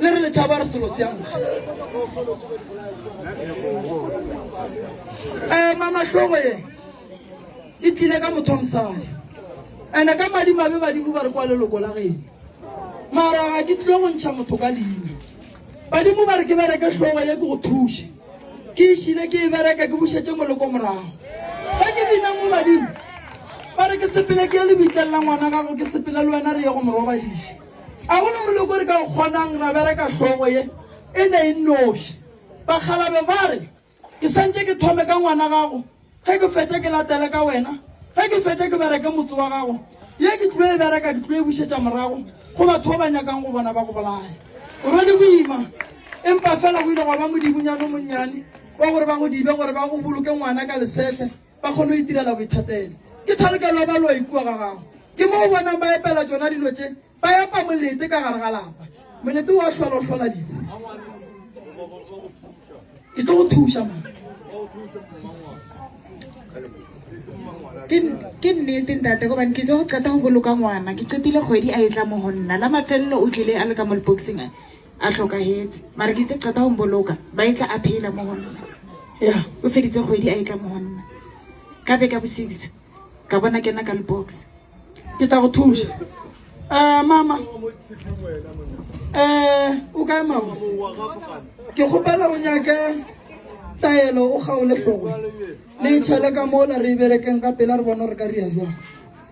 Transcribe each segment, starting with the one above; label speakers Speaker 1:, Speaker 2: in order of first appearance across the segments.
Speaker 1: le re letšhaba re selo seang um mamatlhogo ye e tlile ka motho mosadi ande ka madimabe badimo ba re kwa leloko la geno mara ga ke tlile go ntšha motho ka leina badimo ba re ke bereke tlhogo ye ke go thuše ke išile ke e bereka ke bušetse moloko morago ga ke bina mo badimo ba re ke sepele ke ye lebitlang la ngwana gago ke sepele le wena re ye go morobadiša A go na moloko re ka o kgonang ra bereka hlogo ye e ne e nnoši? Bakgalabe ba re, Ke santše ke thome ka ngwana gago, ge ke fetša ke latele ka wena, ge ke fetša ke bereke motse wa gago. Ye ke tlo e bereka ke tlo e bušetša morago go batho ba ba nyakang go bona ba go bolaya. O rwele boima, empa feela go ile gwa ba modibunyana o monnyane wa gore ba go dibe gore ba go boloke ngwana ka lesehle. ba kgone go itirela boithatelo. Ke thalokelo ya baloi kua ga gago. Ke mo o bonang ba epela tšona dilo tše, ba epa molete ka gare ga lapa. Molete wa hlola o hlola dihu. Ke tlo go thuša ma.
Speaker 2: ke nnete ntate gobane ke tse go qeta go boloka ngwana ke qetile kgwedi a e tla mo go nna la mafelelo o tlile a le ka mo leboxing A hlokahetse, mara ke itse qeta go mboloka, ba etla a phela mo go nna. Ya, o feditse
Speaker 1: kgwedi a
Speaker 2: etla mo go nna. Ka be ka bo six, ka bona kena ka lebox. Ke tla go
Speaker 1: thuša. Eh, mama. Eh, o kae mama? Ke kgopela o nyake taelo, o kgaole hlogo. Le itšhele ka mola re e berekeng ka pela re bone gore ka ria jwang.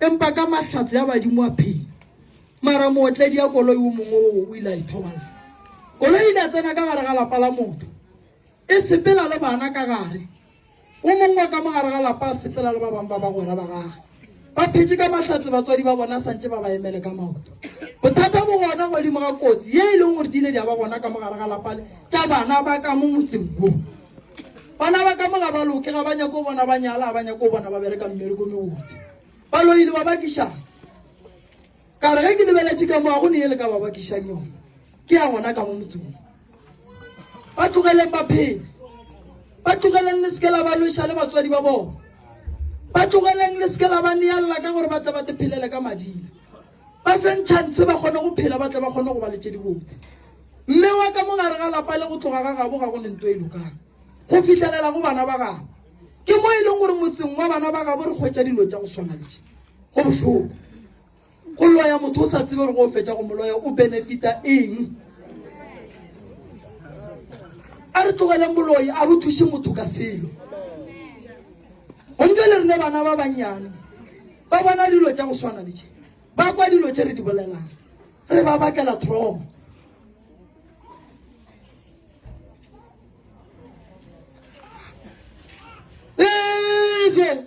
Speaker 1: Empa ka mahlatse a badimo a phela. Mara mootledi ya koloi o mongwe o o ile a ithoballa. Koloi e ile ya tsena ka gare ga lapa la motho, e sepela le bana ka gare. O mongwe wa ka mo gare ga lapa a sepela le ba bangwe ba bagwera ba gagwe. Ba phetše ka mahlatse batswadi ba bona sa ntše ba ba emele ka maoto. Bothata bo gona godimo ga kotsi ye e leng gore di ile di a ba gona ka mo gare ga lapa le tša bana ba ka mo motseng wo. Bana ba ka mo ga ba loke, ga ba nyake go bona ba nyala, ga ba nyake go bona ba bereka mmereko mebotse. Ba loile ba bakišang. Ka re ge ke lebeletše ka mo ga go ne e le ka ba bakišang yone. Ke ya gona ka mo motsong. Ba tlogeleng ba phele. Ba tlogeleng le seke la ba lweša le batswadi ba bona. Ba tlogeleng le seke la ba neelela ka gore ba tle ba te phelele ka mading. ba fe ntšhantse ba kgone go phela ba tle ba kgone go ba le tše dibotse mme wa ka mo gare ga lapa le go tloga ga gabo ga go ne nto e lokang go fitlhelela go bana ba gabo ke mo e leng gore motseng wa bana ba gabo re kgwetsa dilo tša go swana le tše go bohloko go loya motho o sa tsebe gore go fetsa go moloya o benefita eng a re tlogeleng boloi a bo thuse motho ka selo gonke le rene bana ba bannyane Ba bona dilo tša go swana le tše. Ba kwa dilo tše re di bolelang. Re ba bakela trauma. Lezwe!